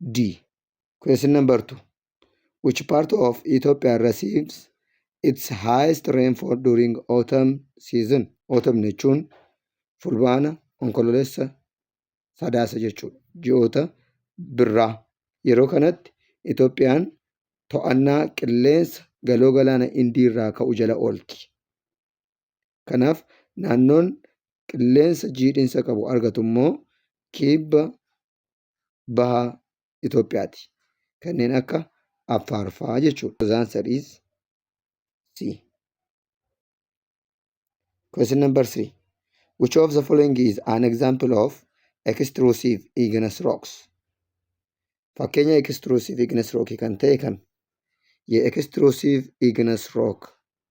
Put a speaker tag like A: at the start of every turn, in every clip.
A: D. Question number 2. Which part of Ethiopia receives its highest rainfall during autumn season? Autumn jechuun fulbaana, onkololeessa, sadaasa jechuudha. Ji'oota birraa. Yeroo kanatti Itoophiyaan to'annaa qilleensa galoo galaana Indii irraa ka'u jala oolti. Kanaaf naannoon qilleensa jiidhinsa qabu argatu immoo kibba baha Itoophiyaati. Kanneen akka Affaar fa'aa jechuudha. Those answer is C. Question number 3. Which of the following is an example of extrusive igneous rocks? Fakkeenya extrusive igneous rock kan ta'e kami? Ye extrusive igneous rock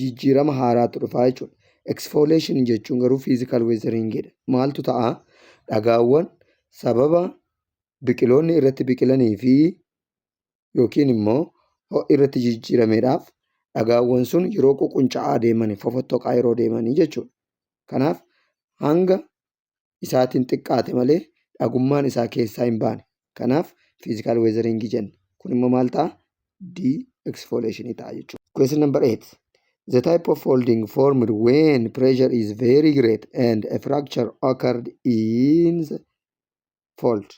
A: jijjiirama haaraatu dhufaa jechuudha. Eksfooleeshinii jechuun garuu fiizikaal weezariingidha. Maaltu ta'a? Dhagaawwan sababa biqiloonni irratti biqilanii fi yookiin immoo ho'i irratti jijjiirameedhaaf dhagaawwan sun yeroo ququnca'aa deemanii fofottoqaa yeroo deemanii jechuudha. Kanaaf hanga isaatiin xiqqaate malee dhagummaan isaa keessaa hin baane. Kanaaf fiizikaal weezariingii jenna. Kun immoo maal ta'a? Di'eksfooleeshinii ta'a jechuudha. Question number 8. The type of folding formed when pressure is very great and a fracture occurred in the fold.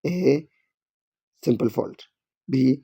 A: A. Simple fold. B.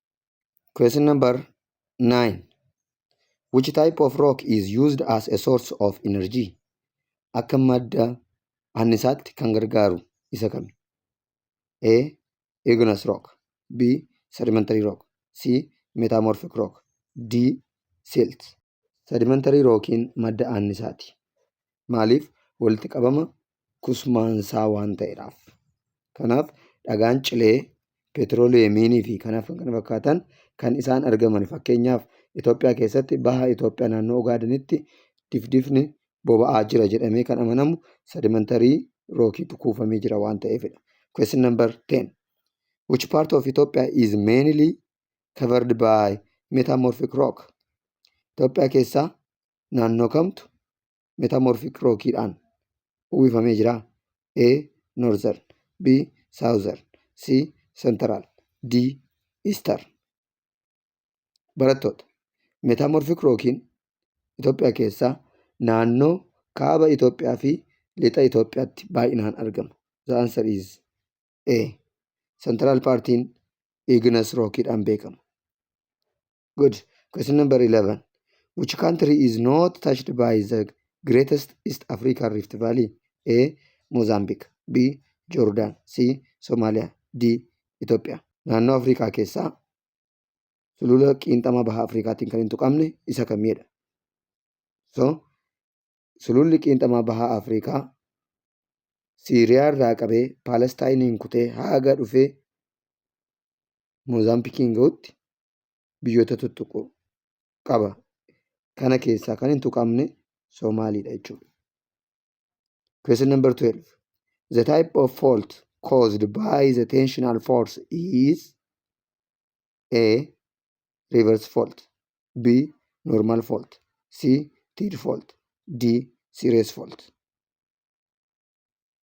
A: Question number 9. Which type of rock is used as a source of energy? Akka madda annisaatti kan gargaaru isa kami? A. Igneous rock B. Sedimentary rock C. Metamorphic rock D. Silt Sedimentary rockiin madda annisaati. Maaliif? Walitti qabama kusmaansaa waan ta'edhaaf. Kanaaf dhagaan cilee, peetiroliyeemiinii fi kanaaf kan kana fakkaatan kan isaan argaman fakkeenyaaf Itoophiyaa keessatti baha Itoophiyaa naannoo Ogaadenitti difdifni boba'aa jira jedhamee kan amanamu sedimantarii rookiitu kuufamee jira waan ta'eefidha. Question number 10. Which part of Ethiopia is mainly covered by metamorphic rock? Itoophiyaa keessaa naannoo kamtu metamorphic rock dhaan uwwifamee jira. A. Northern B. Southern C. Central D. Eastern Barattoota metamorphic rockiin Itoophiyaa keessaa naannoo kaaba Itoophiyaa fi lixa Itoophiyaatti baay'inaan argama. The answer is A. Central partiin Igneous rock dhaan beekama. good question number 11 which country is not touched by the greatest east african rift valley a mozambique b jordan c somalia d ethiopia naannoo afrikaa keessaa sulula qiinxama baha afrikaatiin kan hin tuqamne isa kamiidha so sululli qiinxama baha afrikaa siiriyaa irraa qabee paalestaayiniin kutee haaga dhufee moozaambikiin ga'utti biyyoota tuttuqu qaba. Kana keessaa kan hin tuqamne Somaaliidha jechuudha. Question number 12. The type of fault caused by the tensional force is A. Reverse fault B. Normal fault C. Teed fault D. Serious fault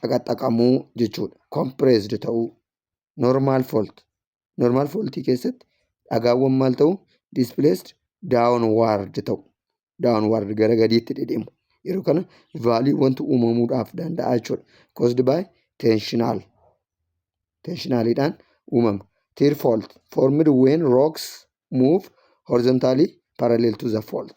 A: xaqaxaqamuu jechuudha. Compressed ta'uu. Normal fault. Normal fault keessatti dhagaawwan maal ta'u? Displaced downward ta'u. Downward gara gadiitti dhidhimu. Yeroo kana value wanti uumamuudhaaf danda'a jechuudha. Caused by tensional. Tensionalidhaan uumama. Tear fault formed when rocks move horizontally parallel to the fault.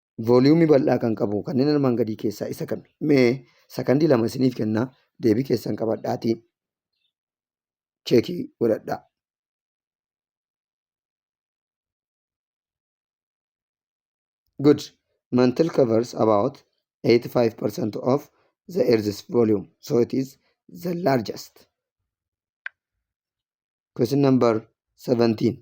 A: Vooliyuumii bal'aa kan qabu kanneen armaan gadii keessaa isa kami? Mee sakandii lama isiniif kenna deebii keessan qabadhaatii cheekii godhadhaa. Good. Mantle covers about 85% of the Earth's volume, so it is the largest. Question number 17.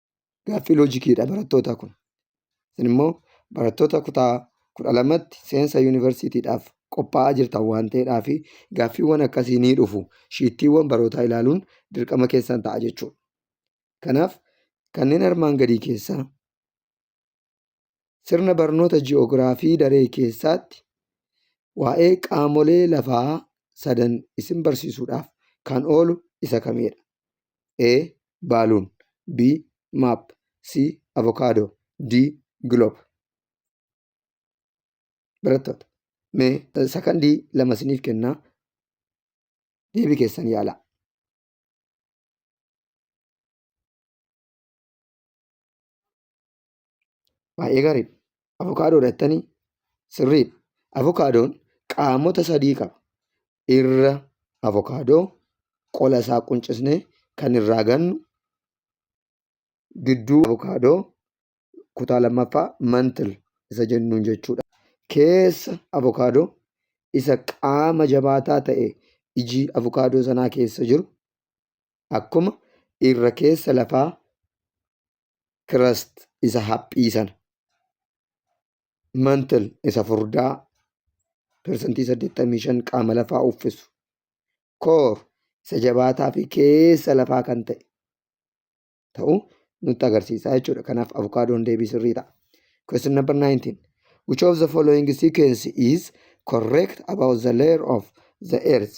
A: gaaffii loojikiidha barattootaa kun. Isin immoo barattoota kutaa kudha lamatti seensa yuunivarsiitiidhaaf qophaa'aa jirtan waan ta'eedhaa fi gaaffiiwwan akkasii ni dhufu. Shiittiiwwan barootaa ilaaluun dirqama keessan ta'a jechuudha. Kanaaf kanneen armaan gadii keessaa Sirna barnoota ji'oogiraafii daree keessaatti waa'ee qaamolee lafaa sadan isin barsiisuudhaaf kan oolu isa kamidha? A. Baaluun B. Maap C. Avokaadoo D. Giloob Barattoota mee sakandii lama isiniif kennaa deebii keessan yaalaa. Baay'ee gaariidha. Avokaadoodha jettanii sirriidha. Avokaadoon qaamota sadii qaba. Irra avokaadoo qola isaa quncisnee kan irraa gannu gidduu avokaadoo kutaa lammaffaa mantil isa jennuun jechuudha. Keessa avokaadoo isa qaama jabaataa ta'e iji avokaadoo sanaa keessa jiru akkuma irra keessa lafaa crust isa haphii sana mantle isa furdaa persentii 85 qaama lafaa uffisu core isa jabaataa fi keessa lafaa kan ta'e ta'u nutti agarsiisa jechuudha kanaaf avokaadoon deebii sirrii ta'a question number 19 which of the following sequence is correct about the layer of the earth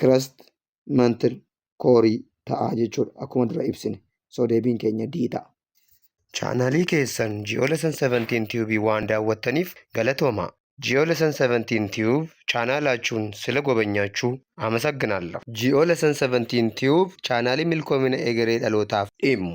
A: crust mantle koorii ta'a jechuudha akkuma dura ibsine soo deebiin keenya D ta'a. Chaanaalii keessan Ji'oo Lesson 17 Tube waan daawwattaniif galatoomaa! Ji'oo Lesson 17 Tube chaanaalaachuun sila gobanyaachuu amasagginaallaf! Ji'oo Lesson 17 Tube chaanaalii milkoomina egeree dhalootaaf dhimmu!